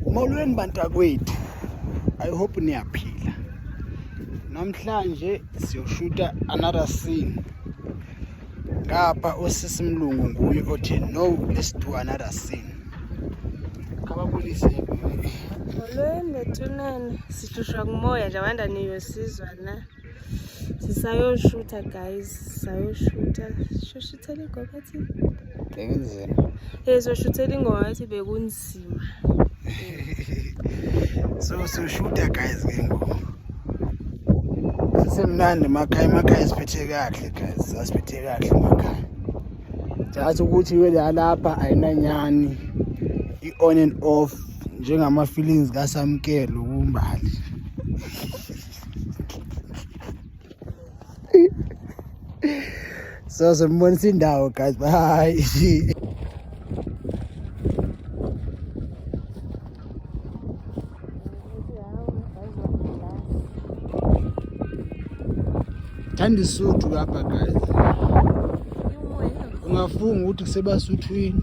Molweni bantakwethu. I hope niyaphila. Namhlanje siyoshuta another scene. Ngapha osisi mlungu nguye othi no let's do another scene. Kababulise. Molweni bethunene. Sihlushwa kumoya nje abanda niyosizwa na. sisayoshutha guys sayoshutha soshuthela igogo athi bekunzima eh soshuthela ingoma athi bekunzima so soshutha guys ke ngoku sisemnandi emakhaya emakhaya siphethe kahle guys sasiphethe kahle emakhaya just ukuthi welapha ayinanyani i-on and off njengama-feelings kasamkelo kumbali So simbonisa indawo guys. Bye. Thanda isuthu lapha guys. Ungafunga ukuthi kusebasuthwini.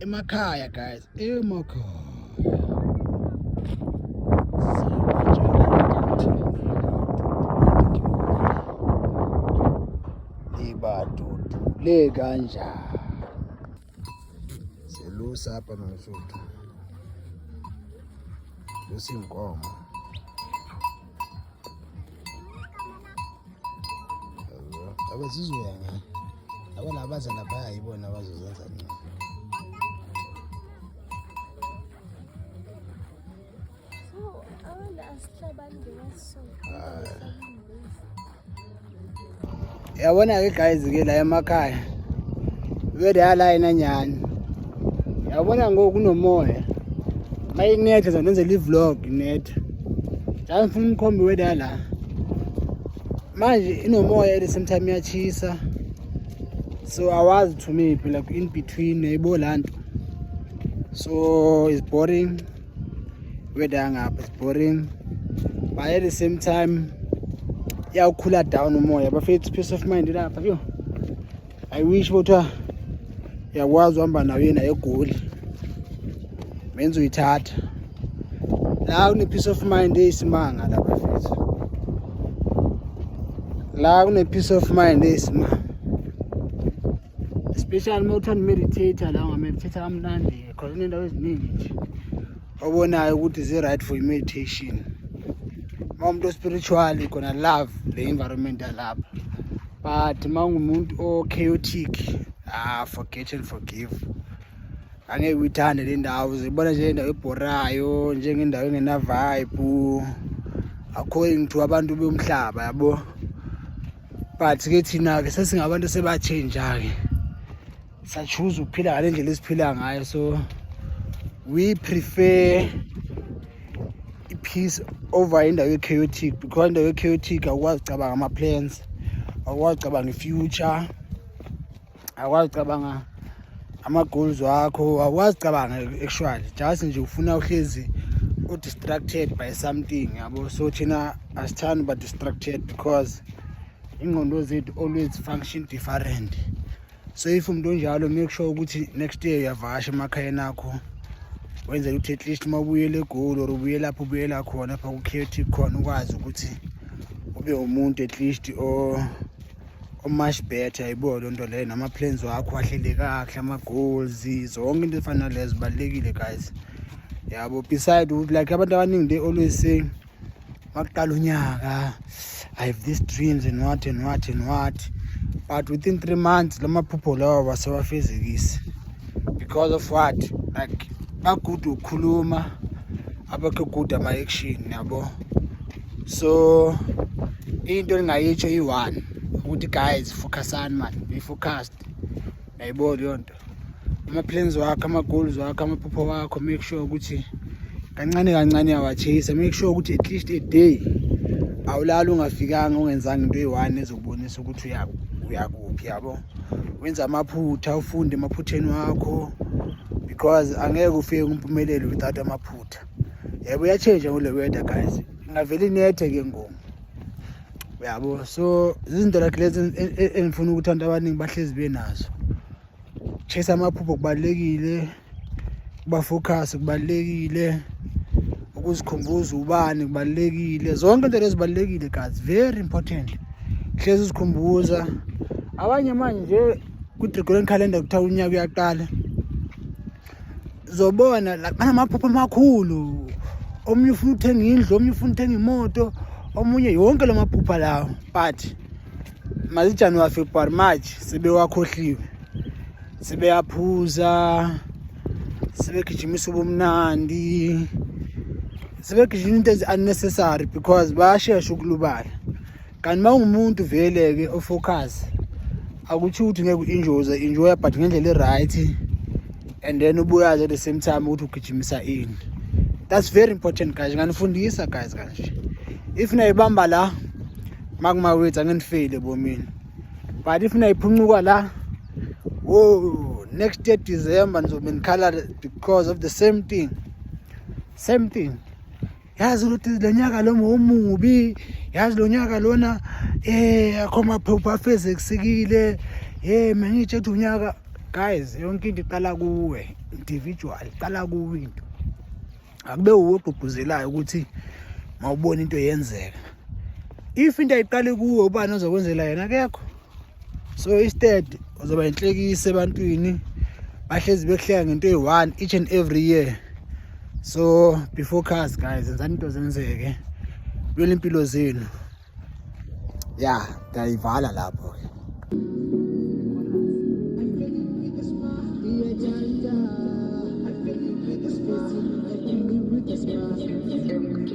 emakhaya guys emakhaya le kanjani selusa hapa msuthu lusi nkomo abazizoya ngayo abona abaza laphaya yibona abazozenza ncane so abantu asihlabani ngemasonto yabona-ke guys-ke la emakhaya vele yalayina nyhani yabona ngoku kunomoya ma inetha zandenzela i-vlog inetha njalo ngifuna umkhombi wede yala manje inomoya ele sometime iyachisa so awazi to me phela in between yayibo la nto so is boring weather yangapha is boring but at the same time iyawukhula down umoya bafethu peace of mind lapha yo i wish kuthiwa uyakwazi uhamba nayo yena egoli menza uyithatha la kune-peace of mind eyisimanga la bafethu la kune-peace of mind eyisimanga especially uma kuthiwa nimeditator la ungameditator kamnandi khona inendawo eziningi nje obonayo ukuthi zi-right for i-meditation uma umuntu ospiritual khona love le environment yalapha but uma ungumuntu o-chaotic ah forget and forgive angeke uyithande le ndawo zibona njengendawo ebhorayo njengendawo engenavibe according to abantu bomhlaba yabo but ke thina-ke sesingabantu sebatshenja-ke sachuza ukuphila ngale ndlela esiphila ngayo so we prefer i-peace over indawo ye-chaotic because indawo ye-chaotic awukwazi ucabanga ama-plans awukwazi ucabanga i-future awukwazi ucabanga ama-goals wakho awukwazi ucabanga actually just nje ufuna uhlezi u-distracted by something yabo so thina asithandi uba-distracted because ingqondo zethu always function different so if umuntu onjalo make sure ukuthi next year uyavasha emakhayeni akho wenzela ukuthi at least uma ubuyele egoli or ubuye lapho ubuyela khona pha kukhethi khona ukwazi ukuthi ube umuntu at least o omuch better ayibo loo nto leyo nama-plans wakho ahlele kakuhle ama-goals zonke into ezifana nalezo zibalulekile guys yabo beside ukuthi like abantu abaningi they always say makuqala unyaka i have these dreams and what and what and what but within three months la maphupho lawo basewafezekisi because of what like bagude ukukhuluma abakho good ama-action yabo so into engingayitsho iyi-one ukuthi guys focusani mani be focused nayibo leyo nto ama-plans wakho ama-goals wakho amaphupho wakho make sure ukuthi kancane kancane awachase make sure ukuthi at least a day awulali ungafikanga ungenzanga into eyi-one ezokubonisa ukuthi uyakuphi yabo wenza amaphutha ufunde emaphutheni wakho because angeke ufike kumpumelelo without amaphutha yebo uyatshentsha ngole weather guys ingavele inethe ke ngoku yabo so izinto like lezi engifuna ukuthi abantu abaningi bahlezi benazo chase amaphupho kubalekile kuba focus kubalekile ukuzikhumbuza ubani kubalekile zonke into lezi balekile guys very important hlezi uzikhumbuza abanye manje ku Gregorian calendar kuthiwa unyaka uyaqala zobona like banamaphupho amakhulu omunye ufuna uthenga indlu omunye ufuna uthenga imoto omunye yonke lo maphupha lawo but mazijanuwari february march sebewakhohliwe sebeyaphuza sebegijimisa ubumnandi sebegijima into ezi-unnecessary because bayashesha ukulubala kanti uma ungumuntu vele-ke ofocus akuthi ukuthi ngeke u-enjoze enjoya but ngendlela e-right and then ubuyazi at the same time ukuthi ugijimisa ini that's very important guys nganifundisa guys kanje if nayibamba la makumawethu angenifeyile bomini but if nayiphuncuka la wo next year december nizobe nikhala because of the same thing same thing yazi ukuthi lo nyaka lo ngomubi yazi lo nyaka lona eh akho maphupho afezeksikile hey mangitshe ukuthi unyaka guys yonke into iqala kuwe individual iqala kuwe into akube uwe ogqugquzelayo ukuthi mawubona into yenzeka if into ayiqali kuwe ubani ozokwenzela yena kekho so instead uzoba inhlekisa ebantwini bahlezi bekuhleka ngento eyi-one each and every year so be focus guys enzani into zenzeke lwela impilo zenu ya ndiyayivala lapho ke Thank you.